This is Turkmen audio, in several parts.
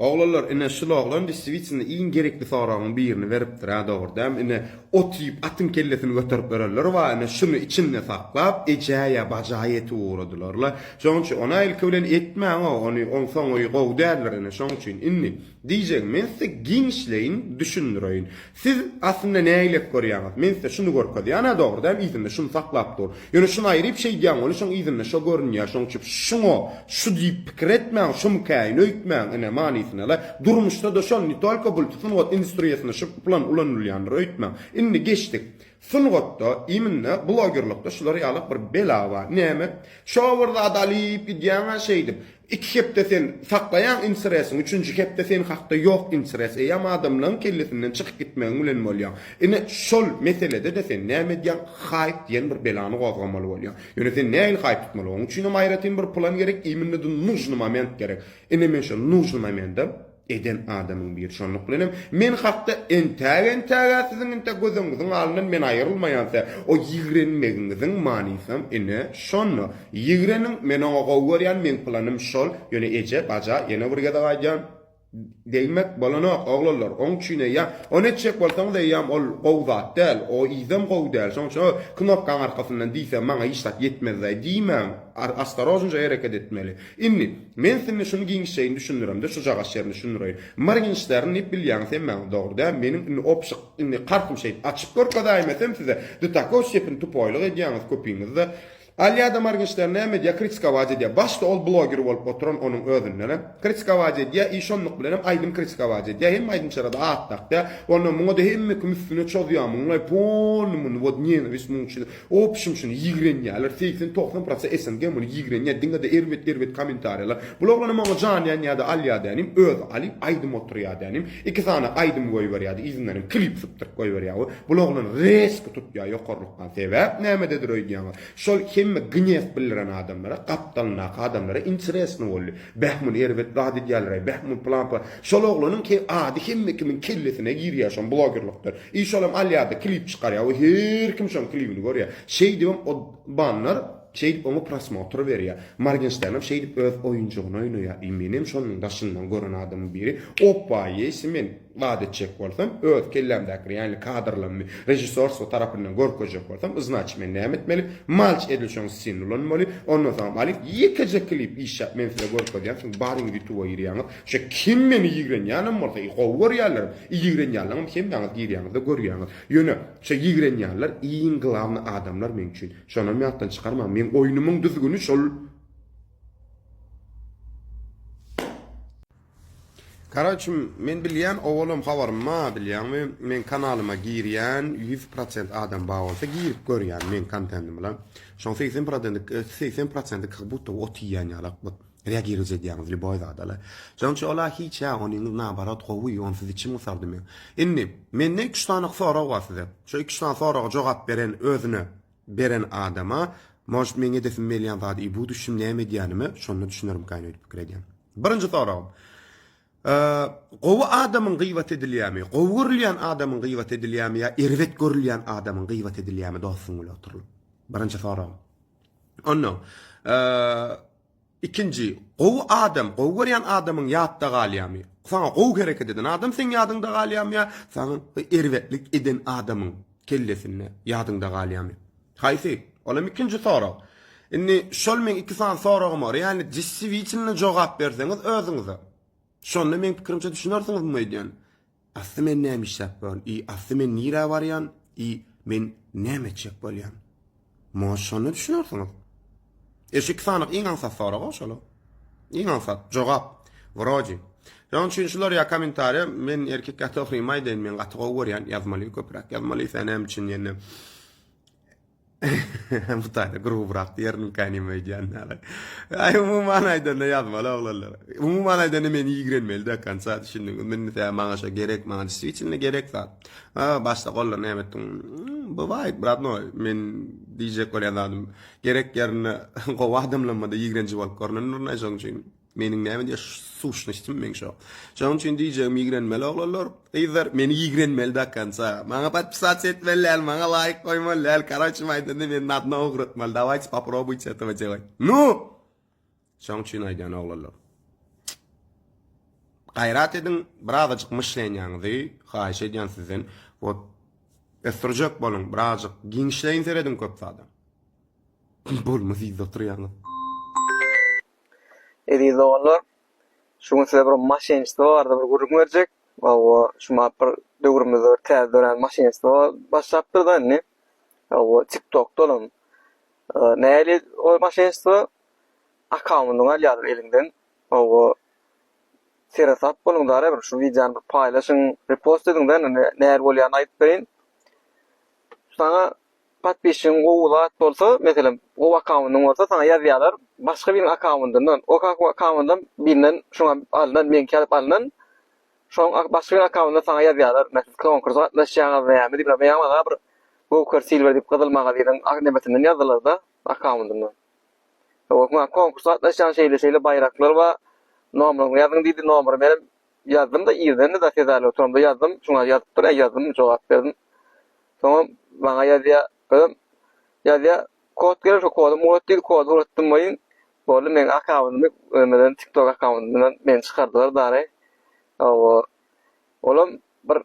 Oglanlar ine şul oglan destiwitsinda iň gerekli soragyň birini beripdirä dogry däm ine ot iýip atyň kellesini göterip örenler ba ine şuny içinde saklap ejä ýa baja ýetip ugradylarla şoň üçin ona ilki bilen etmäňo ony oň soňy gowy däldir ine şoň üçin indi diýjegim men size giňişleýin düşündireýin Siz aslynda nägilek görýäňiz? Men size şuny görkezýän, hä, dogry däl, yzynda şuny saklap dur. Ýöne şuny aýryp şeýdýän weli şoň yzynda şo görünýä, şoň üçin şuňa şu diýip pikir etmäň, şumykäýin öýtmäň, ine, manysyna-la, durmuşda-da şol, ne tolko bul sungat industriýasynda şu plan ulanylýandyr öýtmäň. Indi geçdik. Sungatda, iýminde, blogerlikde şular ýalak bir bela bar. Näme? Şo bir zady alyp gidýäň-ä şeýdip. Iki hepde sen saklaýaň intresiň, üçünji hepde sen hakda ýok intres. Eýýäm adamlaň kellesinden çykyp gitmegiň bilen bolýaň. Ine, şol meselede-de sen näme edýäň? Haýp diýen bir belany gozgamaly bolýaň. Ýöne sen nähili haýp tutmaly? Oň üçinem aýratyn bir plan gerek, iýminde-de nujny moment gerek. Ine men şo nujny momente. eden adamyň biri. Şonluk bilen hem men hakda entäk entägä siziň inte gözüňiziň alyndan men aýrylmaýança, o ýigrenmegiňiziň manysam ine şonda. Ýigreniň, men oňa gowy görýän, meň planym şol. Ýöne eje, baja, ýene bir gezek aýdýan, degmek bolanok, oglanlar, oň üçin eýýäm, ony etjek bolsaňyz eýýäm ol gowy zat däl, o yzam gowy däl, şoň üçin o knopkaň arkasyndan diýse maňa hiç zat ýetmezdaý diýmäň, ostarožnije hereket etmeli. Indi, men siňňe şuny giňişjeýin düşündiremde, şujagaş ýerini düşündireýin. Morgenştern diýip bilýäňiz hemmäňiz, dogry däl? Meniň indi opşyk, indi kartym şeýt, açyp görkezäýmesem size, do takoý stepeni tupoýlyk edýäňiz köpiňiz-de. Alýa-da Morgenştern näme edýär, kritikować edýär. Başda ol bloger bolup oturan onuň özünden-ä. Kritikować edýär i şonluk bilenem aýdym kritikować edýär. Hemme aýdymçylara-da at dakýar. Onda muňa-da hemme kim üstüne çozýar, muňlaý, polny muny, wot, nenawist muň üçin. Opşym şuny ýigrenýäler segsen togsan prosa SNG muny ýigrenýä diňede erbet erbet komentarýalar bul oglana maňa jan ýanýada alýa dänim özi alyp aýdym oturýa dänim iki sany aýdym goýberýädi yzyndanam klip sypdyryp goýberýä we bul oglan reski tutýa ýokarlykdan sebäp nämededir öýdýäňiz şol hemme gnyýew bildiren adamlara gapdalyndaky adamlara interesno boldy beh muny erbet zat edýälereý beh muny plan plan şol oglanyň ady hemme kimiň kellesine girýä şom blogerlikde I şolam alýarda klip çykarýa we her kim şoň klibini görýä. Şeýdibem o banlar şeýdip oňa prosmotr berýä. Morgenşternem şeýdip öz oýunjygyny oýnaýa. I menem şonuň daşyndan gören adamyň biri. Opa ýesi men zat etjek bolsam öz kellämdäki realny kadrlarymy režissorstwo tarapyndan görkezjek bolsam yznaçy men näme etmeli? Malç edil şoň ssin ulanmaly. Ondan soňam alyp ýekeje klip işläp men size görkezýän soň baryň ýutuba girýäňiz. Şe kim meni ýigrenýänem bolsa, i gowy görýänlerim, i ýigrenýänleňem hemmäňiz girýäňizde görýäňiz. Ýöne, şe ýigrenýänler iň glawny adamlar meň üçin. Şonam ýatdan çykarmaň, meň oýnumyň düzgüni şol. Karaç, men bilýän, owalam habarym bar, bilýäňmi, meň kanalyma girýän ýüz prosent adam bar bolsa, girip görýän meň kontendimla. Şoň segsen prodenti, segsen prosenti kak-budda ot iýýän ýalak bot. Reagirowt edýäňiz lýuboý zada-la. Jonçy ol-a hiç-ä, onyňyz naoborat gowy, onsuz içim gysardy meň. Indi, mende iki-üç sany sorag bar size. Şo iki-üç sany soraga jogap beren özüne beren adama, Может, meň edesim gelýän zady i bu düşüm näme edýänime şonda düşünerimkaýyn öýdüp pikir edýän. Birinji soragym. Gowy adamyň gybat edilýämi, gowy görülýän adamyň gybat edilýämi ýa erbet görülýän adamyň gybat edilýämi dostuň bile oturylyp? Birinji soragym. Onnoň, Ikinji, gowy adam, gowy görýän adamyň ýatda galýamy? Saňa gowy hereket eden adam seň ýadyňda galýamy ýa saňa erbetlik eden adamyň kellesinde ýadyňda galýamy? Haýsy? Ol hem ikinji sorag. Indi şol meň iki sany soragym bar. Ýagny deswitynda jogap berseňiz özüňize. Şonda meň pikirimçe düşünersiňiz muny öýdýän. Asly men näme işläp bor i asly men nirä barýan i men näme etjek bolýan. Muňa şonda düşünersiňiz. Eşi iki sanyk iň aňsat sorag o şola. Iň aňsat jogap. Wrodi. Şoň üçin şular ýa kommentariýa men erkek ýa togrymy aýdaýyn men gaty gowy görýän ýazmaly köpräk ýazmaly sen näme üçin ýene Bu taýda grubrak diýerin kä nime aýdýan näle. Aý umuman aýdanda ýazmaly oglanlar. Umuman aýdanda men ýigrenmeli de kansa düşündin. Men tä maňa şo gerek maňa diswiçinli gerek zat. Ha başda gollar näme etdiň? Hmm, bu waýt brat no men diýjek bolýan zadym. Gerek ýerinde gowy adamlanmada ýigrenji bolup görnendir näşe üçin. Meniň näme diýýär şu suşnystim meň şo. Şonuň üçin diýjegim ýigrenmeli oglanlar, gyzlar meni ýigrenmeli do konca. Maňa podpisasiýa etmeli däl, maňa laýk goýmaly däl, koroçim aýdanda meni na dno ugratmaly, dawayçe poprobuýte etowä jebay. Nu! Şoň üçin aýdýan oglanlar. Gaýrat ediň, birazajyk myşlenýaňyzy haýyş edýän sizden. Wot ösdürjek boluň, birazajyk giňişleýin serediň köp zada. Bolmaz ýerde oturýaňyz. Eziz doganlar, şu gün size bir maşennisto barada bir gürrüň berjek. Hawa, şu mahat bir döwrümizde bir täze dörän maşennisto başlapdyr-da indi. Hawa, TikTokda olam. Näli ol maşennisto? Akkaundyňy alýarlar eliňden. Hawa, seresap boluň-da, ara bir şu wideony bir paýlaşyň, repost ediň-de, nähili bolýanyny aýdyp bereýin. Şaňa Podpisçigiň gowy zat bolsa, meselem, gowy akkaundyň bolsa saňa ýazýarlar, başga biriň akkaundyndan, o akkaundam birinden şuňa alnan, meňki alyp alnan, şoň başga biriň akkaundyndan saňa ýazýarlar, Siz konkursa gatnaşýaňyzmy ýa diýip, men ýaňy maňa bir Goker Silver diýip gyzyl magazynyň nebetinden ýazdylar-da, akkaundyndan. Konkursa gatnaşýan şeýle-şeýle baýraklar bar, nomeryňy ýazyň diýdi, nomery berim, Ýazdym-da, irdendi zat ýazaýaly oturamda ýazdym. Şuňa ýazypdyr, äý ýazdym, jogap berdim. Soňam maňa ýazýa, özem ýazýa. Kod geler, şo kodam urat diýdi, kody uratdym welin, boldy meň akkauntymy özümden tiktok akkauntumdan meni çykardylar dary. Hawa. Olam bir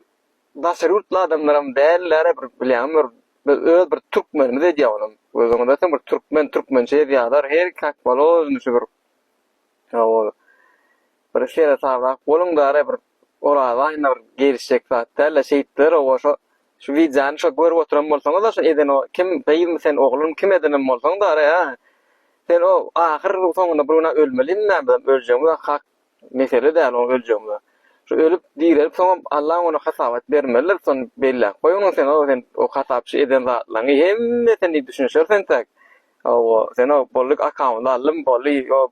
daşary ýurtly adamlaram dälläre bir bilýäňmi bir biz öz bir türkmenimiz edýä olam. Özüňiz bilseň bir türkmen türkmençe ýazýalar, her kak bolor, indi şu bir Hawa. Bir seresaprak boluň dara bir Oraz aýyna bir gelişjek zat däl-de şeýtdiler oba şo şu wideony şo görüp oturan bolsaňyz-a şo eden o kim gyzmy sen oglum kim edenem bolsaň dara ýa sen o ahyr soňunda bir gün-ä ölmelimi näme bizem öljegimiz-ä hak mesele däl o öljegimiz-ä şo ölüp direlip soňam Allam ony hasabat bermelidir şony belläp goý onuň sen o sen o hasapçy eden zatlaryňy hemme sen düşünişersiň entäk Hawa, sen o bolly akamyzy aldym, bolly o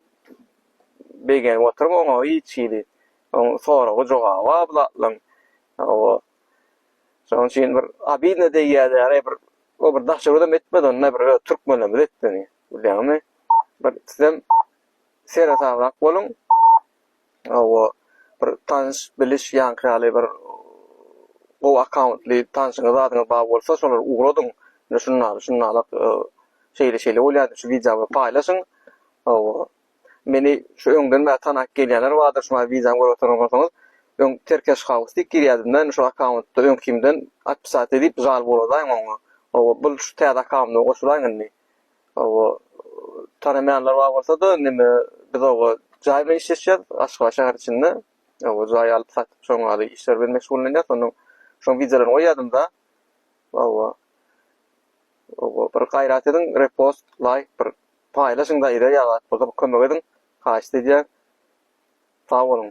begenip oturyň oňa hiç hili. Oň soragy jogaby bar bu zatlaň. Hawa. Şoň üçin bir abidna degýädäre bir o bir daşoguzam etmedi onda bir öz türkmenlerimiz etdi. Bilýäňmi? Bir sizem sere salrak boluň. Hawa, bir tanyş, biliş ýaňky ýaly bir gowy akkauntly tanşyňyz, zadyňyz bar bolsa, şolar ugradyň. Ine şundaly, şundalak şeýle-şeýle bolýar, şu wideo bilen paýlaşyň. Hawa. Meni şu öňden bäri tanap gelýänler bardyr, şu maňa wideony görüp oturan bolsaňyz, öň Terkeş House diýip girýädim-de, indi şol akkauntda öňkimden atpisat edip, žal boladaýyň oňa. Hawa, bul şu täze akkaundyma goşulaýyň indi. Oba tanamaýanlar bar bolsa-da, neme biz oba jaý bilen işleşýär, Aşgabat şäheri içinde. Oba jaý alyp satyp, şoň ýaly işler bilen meşgullanýar. Şonuň şoň wideolaryny goýýardym-da. Oba. Oba bir gaýrat ediň, repost, laýk bir paýlaşyň-da, ýa-da ýa zat bolsa bir kömek ediň. Haýyşt edýän. Sag boluň.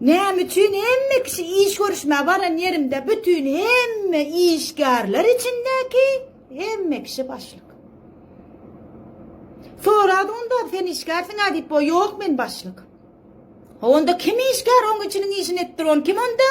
Näme üçin hemme kişi iş görüşmä baran ýerinde bütin hemme işgärler içindäki hemme kişi başlyk. Sorady onda sen işgärsiň a diýip o ýok men başlyk. Onda kim işgär oň içiniň işini etdir on kim onda?